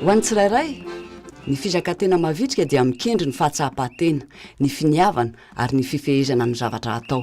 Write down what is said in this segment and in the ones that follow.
Ho an'ny tsirairay, ny fizakan-tena mavitrika dia mikendry ny fahatsapan-tena, ny finiavana ary ny fifehezana amin'ny zavatra atao.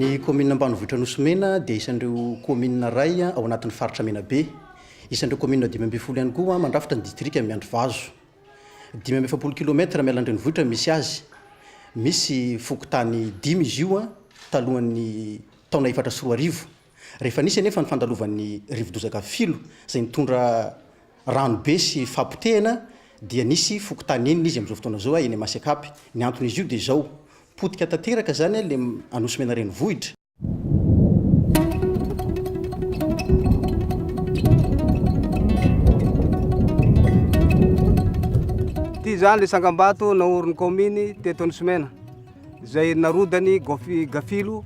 Ny kaominina ambanivohitra Nosy Mena dia isan'ireo kaominina iray ao anatin'ny faritra Menabe. Isan'ireo kaominina dimy ambin'ny folo ihany koa mandrafitra ny distrika Miandrivazo. Dimy amby efapolo kilaometatra miala an-drenivohitra misy azy. Misy fokontany dimy izy io talohan'ny taona efatra sy roa arivo. Rehefa nisy anefa ny fandalovan'ny rivo-dozaka Filo izay nitondra rano be sy fahapotehana dia nisy fokontany enina izy amin'izao fotoana izao eny Masekapy. Ny anton'izy io dia izao, potika tanteraka izany ilay Anosy-Mena renivohitra. Ity izany ilay tsangambato naorin'ny kaominy teto Anosy-Mena. Izay narodany gafilo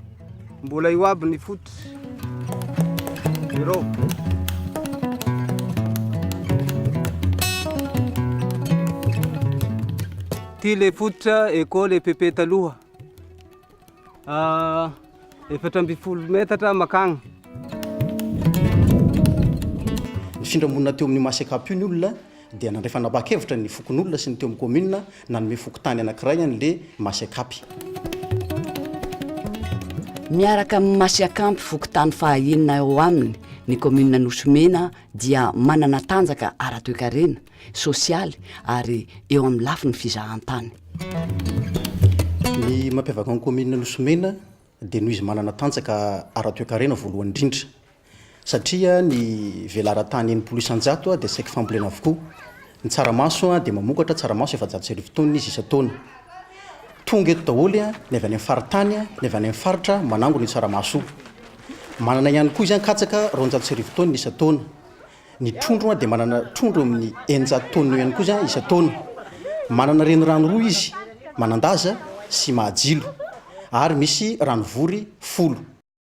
mbola eo aby ny foot ireo. Ty le fototra eko le pepe taloha ah, efatra ambin'ny folo metatra makagna nifindra monina teo amin'ny maseka apio ny olona dia nandray fanapahan-kevitra ny fokonolona sy ny teo amin'ny kaominina nanome fokontany anankiray an'ilay Masiakampy. Miaraka amin'ny Masiakampy fokontany fahaenina eo aminy, ny kaominina Nosy-Mena dia manana tanjaka ara-toekarena, sosialy ary eo amin'ny lafiny fizahantany. Ny mampiavaka ny kaominina Nosy-Mena dia noho izy manana tanjaka ara-toekarena voalohany indrindra, satria ny velaran-tany enimpolo isan-jato dia saiky fambolena avokoa, ny tsaramaso dia mamokatra tsaramaso efajato sy arivo taonina izy isan-taona, tonga eto daholo ny avy any amin'ny faritany, ny avy any amin'ny faritra manangona io tsaramaso io, manana ihany koa izy an katsaka roanjato sy arivo taonina isan-taona, ny trondro dia manana trondro amin'ny eninjato taonina eo ihany koa izy isan-taona, manana renirano roa izy, Manandaza sy Mahajilo, ary misy ranovory folo.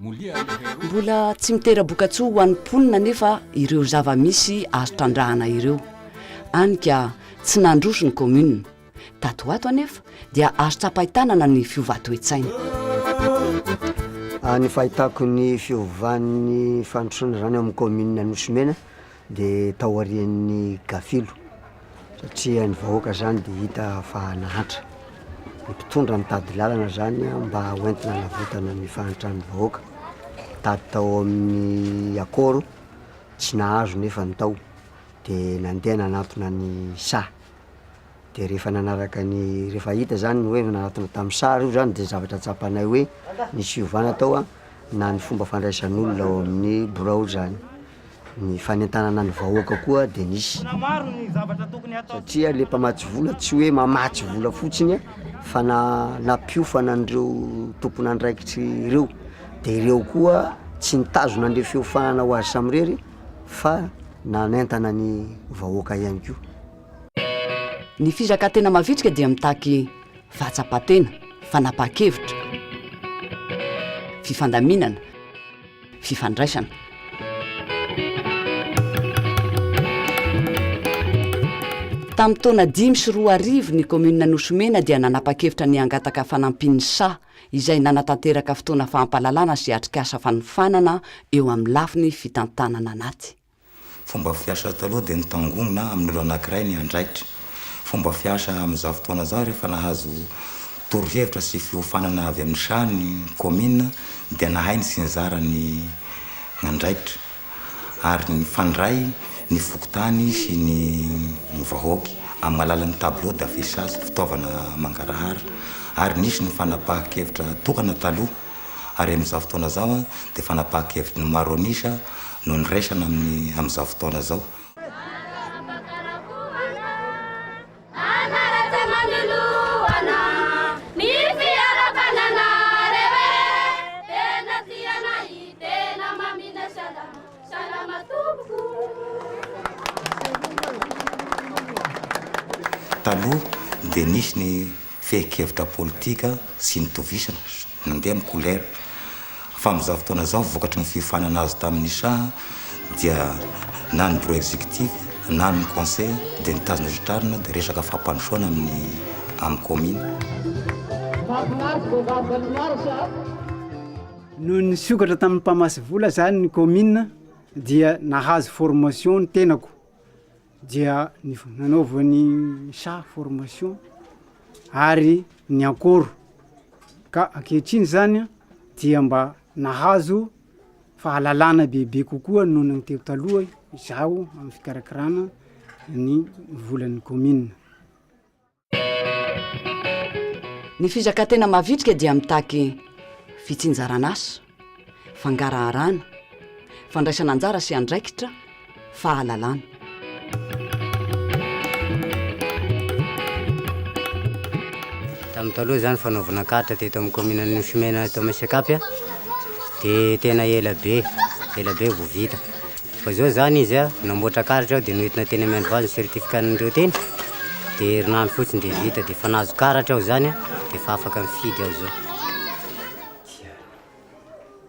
Mbola tsy mitera-bokatsoa ho an'ny mponina anefa ireo zava-misy azo trandrahana ireo, any ka tsy nandroso ny kaominina. Tato ho ato anefa dia azo tsapain-tanana ny fiovà toe-tsaina. Ny fahitako ny fiovan'ny fandrosoana izany ao amin'ny kaominina Anosy Mena dia taorian'ny gafilo satria ny vahoaka zany dia hita fa nahantra, ny mpitondra nitady lalana zany mba hoentina hanavotana ny fahantran'ny vahoaka, nitady tao amin'ny akôro tsy nahazo nefa ny tao dia nandeha nanatona ny saha, dia rehefa nanaraka ny rehefa hita zany ny hoe nanatona tamin'ny saha reo zany dia ny zavatra tsapanay hoe nisy fiovana tao na ny fomba fandraisan'olona ao amin'ny birao zany. Ny fanentanana ny vahoaka koa dia nisy, satria le mpamatsy vola tsy hoe mamatsy vola fotsiny an, fa na- nampiofana an'ireo tompon'andraikitry ireo, de ireo koa tsy nitazona an'le fiofahana ho azy samirery fa nanentana ny vahoaka ihany koa. Ny fizakan-tena mavitrika dia mitaky fahatsapan-tena, fanapahan-kevitra, fifandaminana, fifandraisana. Tamin'ny taona dimy sy roa arivo, ny kaominina Nosy Mena dia nanapa-kevitra ny hangataka fanampin'ny saha, izay nanatanteraka fotoana fampahalalana sy atrikasa fanofanana eo amin'ny lafiny fitantanana anaty. Fomba fiasa taloha dia nitangomina amin'ny olona anankiray ny andraikitra. Fomba fiasa amin'izao fotoana izao rehefa nahazo torohevitra sy fiofanana avy amin'ny Chat ny kaominina dia nahay ny sy nizara ny andraikitra ary nifandray ny fokontany sy ny vahoaky amin'ny alalan'ny tableau d'affichage, fitaovana mangarahara, ary nisy ny fanapahan-kevitra tokana taloha. ary amin'izao fotoana izao dia fanapahan-kevitry ny maro an'isa no niraisana amin'ny amin'izao fotoana izao. Taloha dia nisy ny. fehin-kevitra politika sy ny tovisana, nandeha amin'ny kolera. Fa amin'izao fotoana izao, vokatry ny fiofanana azo tamin'ny Shah, dia na ny Bureau Executif na ny Conseil dia nitazona sy nitrarina dia resaka fampandrosoana amin'ny amin'ny Kaomina. Noho ny nisokatra tamin'ny mpamatsy vola izany ny Kaomina dia nahazo formation ny tenako. dia nanaovany saha formation ary niankory ka ankehitriny zany an dia mba nahazo fahalalana bebe kokoa noho ny teo taloha izaho amin'ny fikarakarana ny volan'ny commune. Ny fizakantena mavitrika dia mitaky fitsinjaran'asa, fangaraharana, fandraisana anjara sy andraikitra, fahalalana. Tamin'ny taloha izany fanaovana carte teto amin'ny commune an'i Nosy Mena eto amin'ny Sekapy dia tena ela be, ela be vao vita. Vao izao izany izy namboatra karatra aho dia noentina teny amin'ny androany ny certificat-n'ireo teny dia herinandro fotsiny dia vita dia efa nahazo karatra aho izany dia efa afaka mifidy aho izao.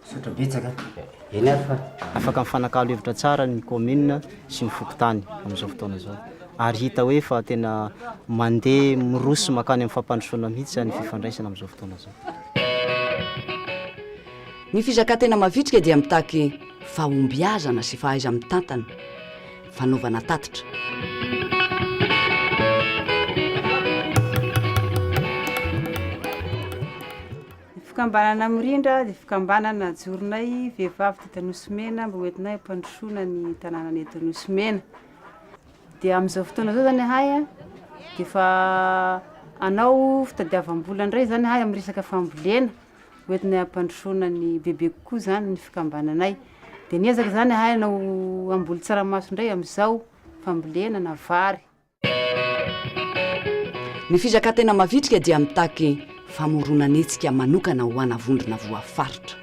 Misaotra betsaka. Eny ary fa. Afaka mifanakalo hevitra tsara ny kaominina sy ny fokontany amin'izao fotoana izao ary hita hoe efa tena mandeha miroso mankany amin'ny fampandrosoana mihitsy izany ny fifandraisana amin'izao fotoana izao. Ny fizakantena mavitrika dia mitaky fahombiazana sy fahaiza-mitantana, fanaovana tatitra. Fikambanana Mirindra dia fikambanana najoronay vehivavy teto Anosimena mba ho entinay hampandrosoana ny tanànanay eto Anosimena. Dia amin'izao fotoana izao zany ahay a, dia efa hanao fitadiavam-bola indray zany ahay amin'ny resaka fambolena. hoentinay hampandrosoana ny bebe kokoa izany ny fikambananay. Dia niezaka izany ahay hanao hamboly tsaramaso indray amin'izao, fambolena na vary. Ny fizakantena mavitrika dia mitaky famoronan'hetsika manokana ho ana vondrona voafaritra.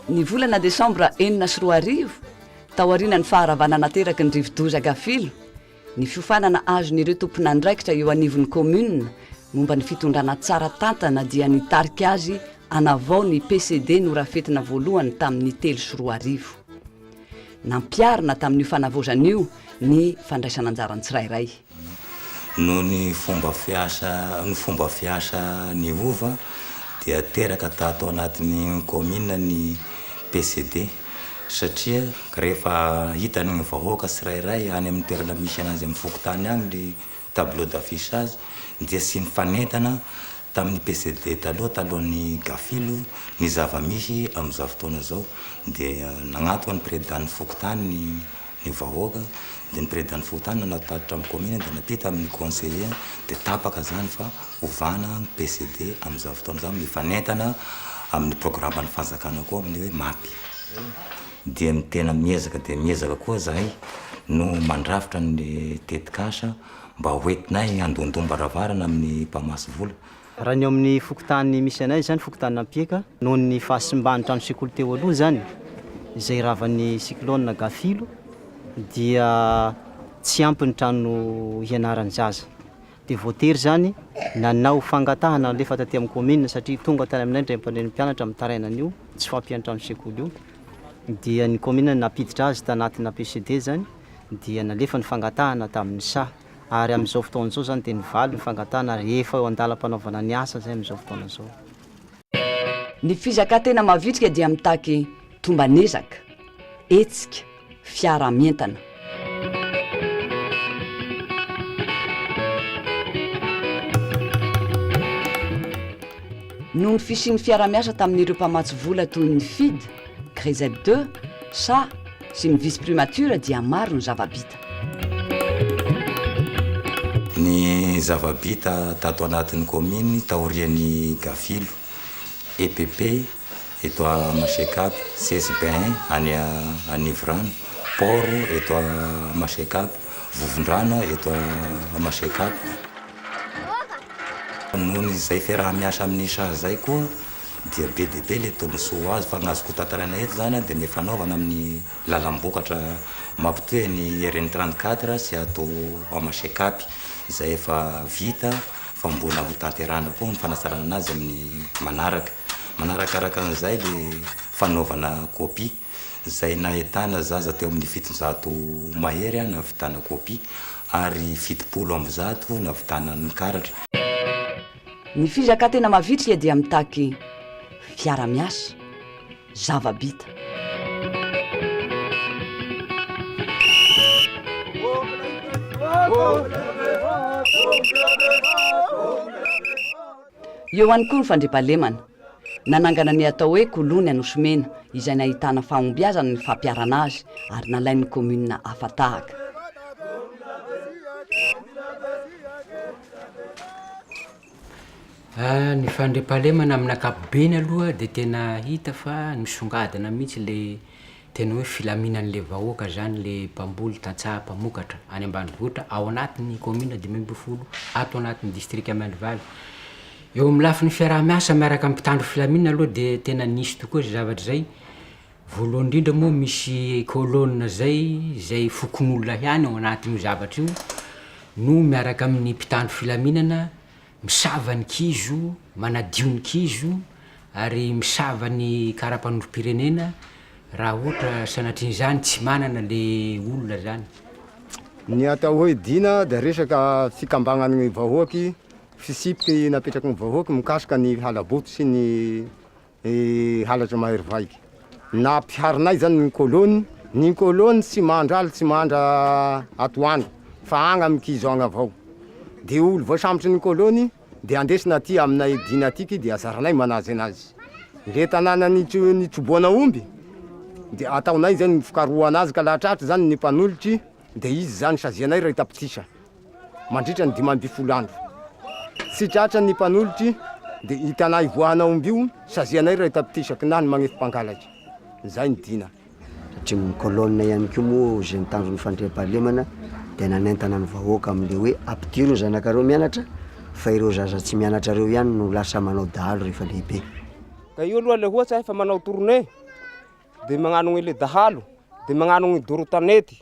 Ny volana desambra enina sy roa arivo, taorianan'ny faharavana nateraky ny rivodoza Gafilo, Ny fiofanana azon'ireo tompon'andraikitra eo anivon'ny kaominina momba ny fitondrana tsara tantana dia nitarika azy hanavao ny PCD norafetina voalohany tamin'ny telo sy roa arivo. Nampiharina tamin'io fanavaozana io ny fandraisan'anjaran'ny tsirairay. Noho ny fomba fiasa ny fomba fiasa niova dia teraka tato anatin'ny kaominina ny PCD. satria rehefa hitany ny vahoaka tsirairay any amin'ny toerana misy anazy amin'ny fokontany any ny tableau d'affichage dia tsy nifanentana tamin'ny PCD taloha talohan'ny Gafilo ny zava-misy amin'izao fotoana izao dia nagnatona ny prezidan'ny fokontany ny ny vahoaka dia ny presidente fokontany no natatitra ny commune dia natety tamin'ny conseiller dia tapaka izany fa ovana ny PCD amin'izany fotoana izany mifanentana amin'ny programan'ny fanjakana koa amin'ny hoe mapy dia ny tena miezaka dia miezaka koa izahay no mandrafitra ny tetikasa mba hoentinay handondombaravara na amin'ny mpamatsy vola Raha ny ao amin'ny fokontany misy anay izany, fokontan'Ampieka, noho ny fahasimban'ny trano sekoly teo aloha izany, izay ravan'ny cyclone Gafilo, dia tsy ampy ny trano hianaran'ny zaza. Dia voatery izany nanao fangatahana nalefa taty amin'ny kaominina, satria tonga tany aminay ny raim-pandren'ny mpianatra mitaraina an'io tsy fahampian'ny trano sekoly io, dia ny kaominina nampiditra azy tanatina PCD izany, dia nalefa ny fangatahana tamin'ny saha. ary amin'izao fotoana izao izany dia ny valo ny fangatahana ary efa eo an-dalam-panaovana ny asa izay amin'izao fotoana izao. Ny fizakantena mavitrika dia mitaky tomban'ezaka, hetsika, fiaraha-mientana. Noho ny fisian'ny fiaraha-miasa tamin'ireo mpamatsy vola toy ny Fid, Grzeb deux, sa, sy ny Vice-Primature dia maro ny zava-bita. Ny zava-bita tato anatin'ny kaominina taorian'ny Gafilo, EPP, eto Masekapa, CSBAIN any Anivorano, Port eto Masekapa, Vovondrana eto Masekapa. Noho izay fiaraha-miasa amin'ny saha izay koa dia be dia be ilay tombontsoa azo fa ny azoko tantaraina eto izany dia ny fanaovana amin'ny. lalam-bokatra mampitohy an'i RN trente quatre sy ato Amashekapy izay efa vita fa mbola ho tanterahina koa ny fanatsarana azy amin'ny manaraka. Manarakaraka an'izay le fanaovana copie izay nahitana zaza teo amin'ny fitonjato mahery nahavitana copie ary fitopolo amby zato nahavitana ny karatra. Ny fizaka tena mavitrika dia mitaky fiara-miasa. zava-bita. Eo ihany koa ny fandriampahalemana. Nanangana ny atao hoe Kolony Anosy-Mena izay nahitana fahombiazana ny fampiharana azy ary nalain'ny kaominina hafa tahaka. Ny fandriampahalemana amin'ny ankapobeny aloha dia tena hita fa nisongadina mihintsy le tena hoe filaminan'le vahoaka zany le mpamboly tantsaha mpamokatra any ambanivohitra ao anatin'ny kaominina dimy ambin'ny folo ato anatin'ny distrika Miandrivaly. Eo amin'ny lafiny fiaraha-miasa miaraka amin'ny mpitandro filaminana aloha dia tena nisy tokoa zay zavatra zay. Voalohany indrindra moa misy colonne zay, izay fokonolona ihany ao anatin'io zavatra io, no miaraka amin'ny mpitandro filaminana misava ny kizo, manadio ny kizo ary misava ny karapanondrom-pirenena raha ohatra sanatrian'izany tsy manana le olona zany. Ny atao hoe Dina dia resaka fikambanan'ny vahoaky, fisipiky napetraky ny vahoaky mikasika ny halaboto sy ny halatra mahery vaika na mpiharinay zany ny kolony ny kolony tsy mandra aly tsy mandra atoandro fa any amin'ny kizo any avao de olo voasambotry ny kolony de andesina aty aminay dina aty de azaranay manaja anazy le tanàna nitso- nitrobohana omby de ataonay zany ny fikarohana azy ka laha tratry zany ny mpanolotry de izy zany sazianay raha hitapitrisany mandritra ny dimy ambin'ny folo andro. Tsy tratra ny mpanolotry dia hitanay hivoahana omby io sazianay raha hitam-pitisaky na ny manefy mpangalatra. Izay ny dina. Tatrimin'ny colonne ihany koa moa izay ny tanjon'ny fandriampahalemana dia nanentana ny vahoaka amin'ilay hoe ampidiro ny zanakareo mianatra fa ireo zaza tsy mianatra ireo ihany no lasa manao dahalo rehefa lehibe. Ka io aloha ilay ohatra efa manao tournée dia magnano an'ilay dahalo dia magnano ny doro tanety.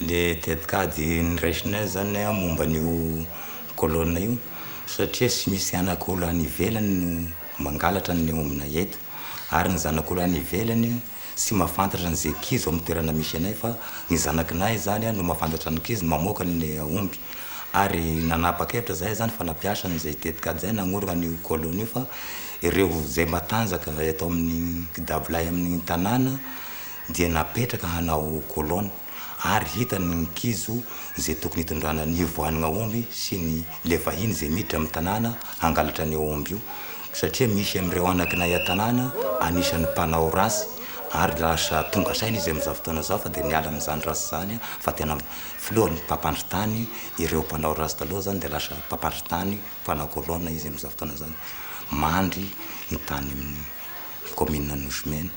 Ilay tetikady niraisinay izany momba an'io colonne io satria tsy misy anak'olona any ivelany no mangalatra ny ao aminay eto ary ny zanak'olona any ivelany tsy mahafantatra an'izay kizo amin'ny toerana misy anay fa ny zanak'nay izany no mahafantatra ny kizo no mamoaka ny omby ary nanapa-kevitra izahay izany fa nampiasa an'izay tetikady izay nanorina an'io colonne io fa ireo izay matanjaka eto amin'ny dabolay amin'ny tanàna dia napetraka hanao kolona ary hitany ny nkizo izay tokony hitondrana ny hivoahana omby sy ny le vahiny izay miditra amin'ny tanàna hangalatra an'io omby io satria misy amin'ireo anakinay an-tanàna anisan'ny mpanao ratsy ary lasa tonga saina izy amin'izao fotoana izao fa dia niala amin'izany ratsy izany fa tena filoha mpampandry tany ireo mpanao ratsy taloha izany dia lasa mpampandry tany mpanao kolona izy amin'izao fotoana izany mandry ny tany amin'ny kaominina Nosy-Mena.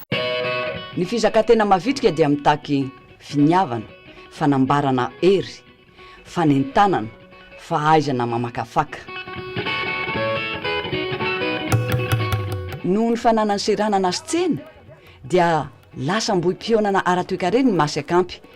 Ny fizakan-tena mavitrika dia mitaky finiavana, fanambarana hery, fanentanana, fahaizana mamakafaka. Noho ny fananany seranana sy tsena dia lasa ambohim-pihaonana ara-toekarena ny Masy Akampy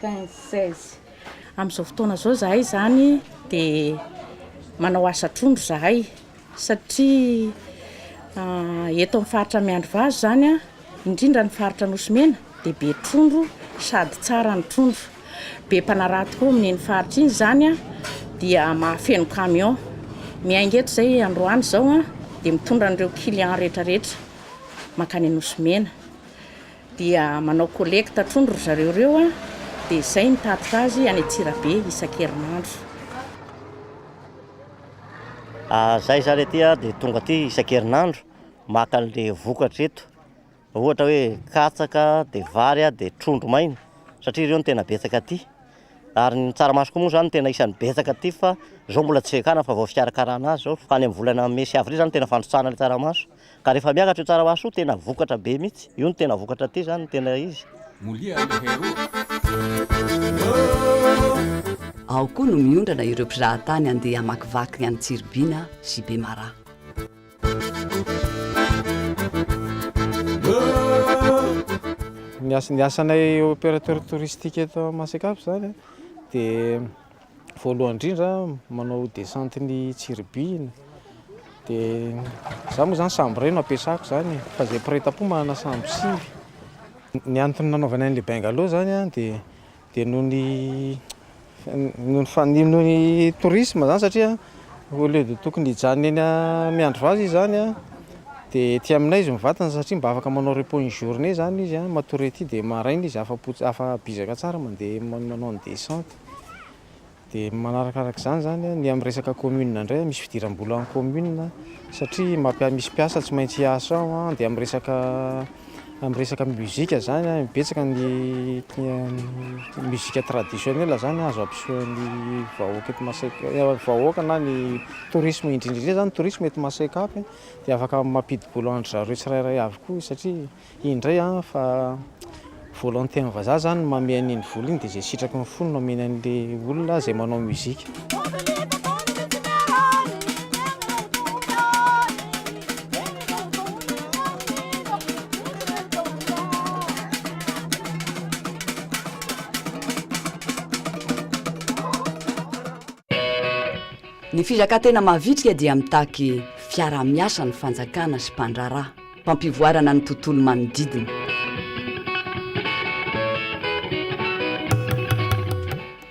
quinze, seize. Amin'izao fotoana izao izahay izany dia manao asa trondro izahay satria eto amin'ny faritra Miandrivazo izany indrindra ny faritra Nosy Mena dia be trondro sady tsara ny trondro. Be mpanaraha tokoa amin'iny faritra iny izany dia mahafeno camion. Miainga eto izay androany izao dia mitondra an'ireo clients rehetra rehetra mankany Nosy Mena. Dia manao collecte trondro ry zareo ireo an, dia izay ny tatitra azy any Antsirabe isan-kerinandro. Ary izahay izany aty an, dia tonga aty isan-kerinandro maka an'ilay vokatra eto, ohatra hoe katsaka, dia vary, dia trondro maina, satria ireo no tena betsaka aty. Ary ny tsaramaso koa moa izany no tena isan'ny betsaka aty fa izao mbola tsy ekana fa vao fikarakarana azy izao, fa any amin'ny volana mey sy avrily izany no tena fandrotsahana ilay tsaramaso. Ka rehefa miakatra io tsara ho aso io tena vokatra be mitsy. Io no tena vokatra aty zany no tena izy. Molia aloha heroo. Ao koa no miondrana ireo mpizahatany handeha hamakivaky ny any Tsiribihina sy Bemaraha. Ny asanay opérateur touristique eto Masikafo zany dia. voalohany indrindra manao descente ny tsiribihina dia za moa zany sambo iray no ampiasako zany e. fa zay mpiray tampo manana sambo sivy ny antony nanaovana an'ilay bengalo zany a dia dia noho ny noho ny fa- noho ny tourisme zany satria au lieu de tokony hijanona eny a- miandry vaza izy zany a dia ety aminay izy mivantana satria mba afaka manao repos une journée zany izy a matoria ety dia maraina izy afa-po ts- afa-bizaka tsara mandeha man- manao ny descente Dia manarakaraka izany izany a, ny amin'ny resaka commune indray misy fidiram-bola amin'ny commune satria mampiasa, misy mpiasa tsy maintsy hiasa ao an, dia amin'ny resaka amin'ny resaka mozika izany an, betsaka ny mozika traditionnel izany azo ampisehoan'ny vahoaka eto Masina, ny vahoaka na ny tourisme indrindra indrindra izany ny tourisme eto Masina Cap dia afaka mampidi-bola an-dry zareo tsirairay avy koa satria. Iny indray an, fa volonté ny vazaha zany ny mamehy an'iny vola iny dia izay sitraky ny fony no ameny an'le olona izay manao musique. Ny fizakantena mavitrika dia mitaky fiaraha-miasa ny fanjakana sy mpandraharaha. mpampivoarana ny tontolo manodidina.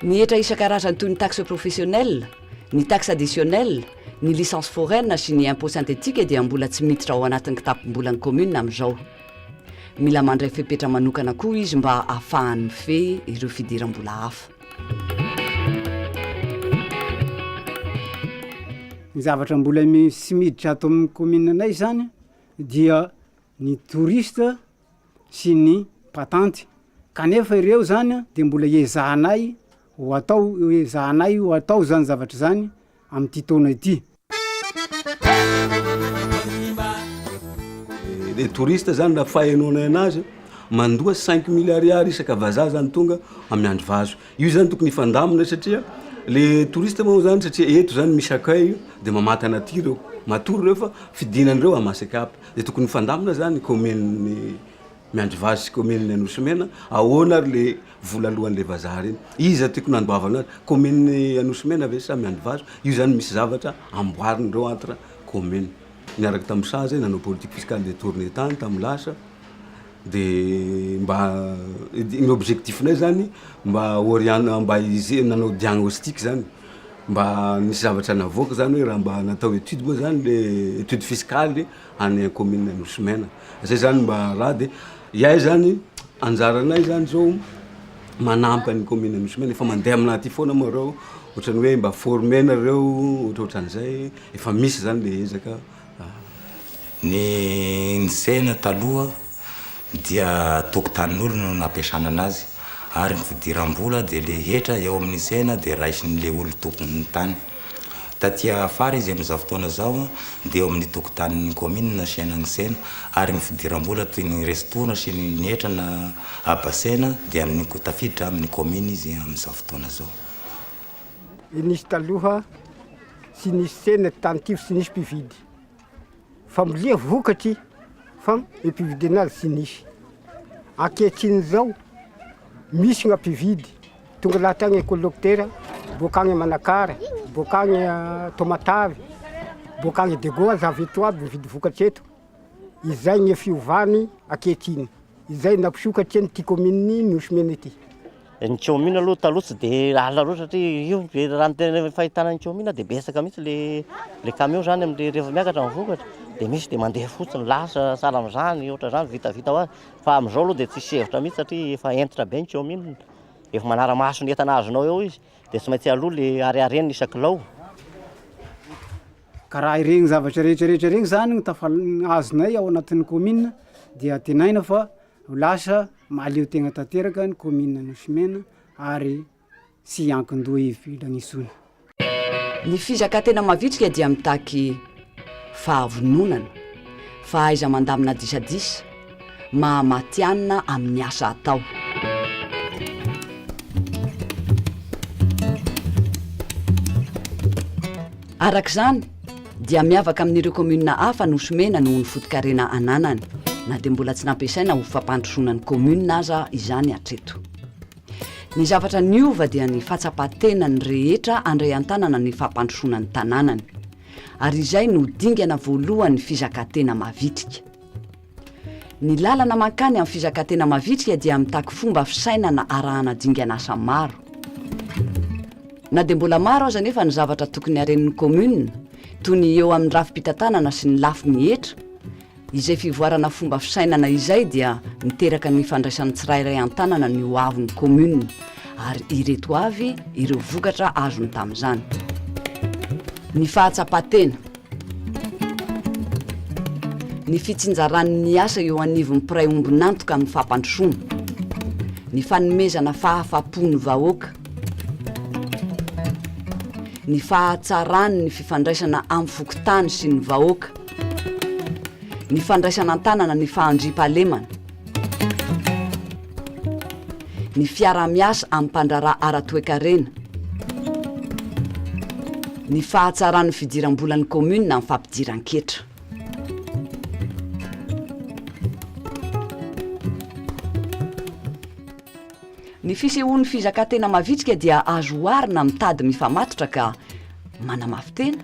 Ny hetra isan-karazany toy ny taxe professionnelle, ny taxe additionnelle, ny licence foraine sy ny impôt synthétique dia mbola tsy miditra ao anatin'ny kitapom-bolan'ny kaominina amin'izao. Mila mandray fepetra manokana koa izy mba hahafahany mifehy ireo fidiram-bola hafa. Ny zavatra mbola misy miditra ato amin'ny commune anay zany dia ny touriste sy ny mpatanty kanefa ireo zany de mbola iezahanay ho atao- iezahanay ho atao zany zavatra zany amty taona ity. Le touriste zany raha fahenoanay anazy mandoa cinq mille ariary isaka vazaha zany tonga amin'ny andro vazo io zany tokony hifandamina satria le touriste moa zany satria eto zany misy accueil dia mamatana aty ireo matory ireo fa fidinana ireo à masecap dia tokony hifandamina zany ny kaominin'ny miandrivazo sy kaominin'ny anosy mena ahoana ary le Vola lohan' le vazaha reny. Iza tiako nandovana azy? Commune Anosimena ve sa Mianivazo? Io zany misy zavatra amboariny reo entre commune. Niaraka tam sazy nanao politique fiscale de tourner tany tam lasa de mba ny objectif nay zany mba orientena mba hize- nanao diagnostic zany mba nisy zavatra navoaka zany hoe raha mba natao étude moa zany le étude fiscale. any an commune Anosy Mena zay zany mba raha de iay zany anjaranay zany zao manampy an'ny commune Anosy Mena efa mandeha aminah aty foana moa reo ohatrany hoe mba former nareo ohatrohatran zay efa misy zany le ezaka Ny nisehana taloha dia tokotanin'olona no nampiasana anazy ary ny fidiram-bola dia le hetra eo amin'ny tsena dia raisin'le olon-tompon'ny tany. Taty afara izy amin'izao fotoana izao dia eo amin'ny tokotanin'ny kaominina asiana ny tsena ary ny fidiram-bola toy ny restoran sy ny hetra na habasena dia amin'ny ko tafiditra amin'ny kaomina izy amin'izao fotoana izao. Nisy taloha tsy nisy tsena tany ity fa tsy nisy mpividy. Fambolia vokatry fam pividiana azy tsy nisy. Ankehitriny izao, misy gna mpividy, tonga lahatra agny kôlôktera, boaka agny Manakara, boaka agny Taomatavy, boaka agny Diego aza avy eto aby mividy vokatry eto. Izay gny fiovany ankehitriny. Izay nampisokatry an'ity kaomininy Nosy Mena ity. Ny kaominina aloha taloha tsy dia lalina loatra satria io ve raha ny tena fahitana ny kaominina dia betsaka mihitsy le le kamiao zany amin'ireny rehefa miakatra ny vokatra dia misy dia mandeha fotsiny lasa sahala amin'izany ohatra izany vitavita ho azy fa amin'izao aloha dia tsisy hevitra mihitsy satria efa hentitra be ny kaominina efa manara-maso ny entana azonao eo izy dia tsy maintsy aloha le hariharena isan-kilao ka raha ireny zavatra rehetra rehetra ireny zany no tafal- azonay ao anatin'ny kaominina dia antenaina fa Ho lasa mahaleo tegna tanteraka ny Kaominina Anosy-Mena ary tsy hiankin-doha ivelany intsony. Ny fizakantena mavitrika dia mitaky fahavononana, fahaiza-mandamina disadisa, maha matihanina amin'ny asa atao. Araka izany, dia miavaka amin'ireo kaominina hafa nosomena noho ny fotokarena ananany, na dia mbola tsy nampiasaina ho fampandrosoana ny kaominina aza izany hatreto. Ny zavatra niova dia ny fahatsapan-tenan'ny rehetra handray an-tanana ny fampandrosoana ny tanànany. Ary izay no dingana voalohany fizakantena mavitrika. Ny lalana mankany amin'ny fizakantena mavitrika dia mitaky fomba fisainana arahana dingan'asa maro. Na dia mbola maro aza anefa ny zavatra tokony haren'ny kaominina, toy ny eo amin'ny rafi-pitantanana sy ny lafiny hetra, izay fivoarana fomba fisainana izay dia miteraka ny ifandraisan'ny tsirairay an-tanana ny ho avin'ny kaominina, ary ireto avy ireo vokatra azony tamin'izany. Ny fahatsapan-tena. Ny fitsinjaran' ny asa eo anivon'ny mpiray ombon'antoka amin'ny fampandrosoana. Ny fanomezana fahafa-po ny vahoaka. Ny fahatsaran' ny fifandraisana amin'ny fokontany sy ny vahoaka. Ny fandraisana an-tanana ny fahandriampahalemana. Ny fiaraha-miasa amin'ny mpandraharaha ara-toekarena. Ny fahatsaran'ny fidiram-bolan'ny kaominina amin'ny fampidiran-ketra. Ny fisehoan'ny fizakantena mavitrika dia azo oharina amin'ny tady mifamatotra ka manamafy tena,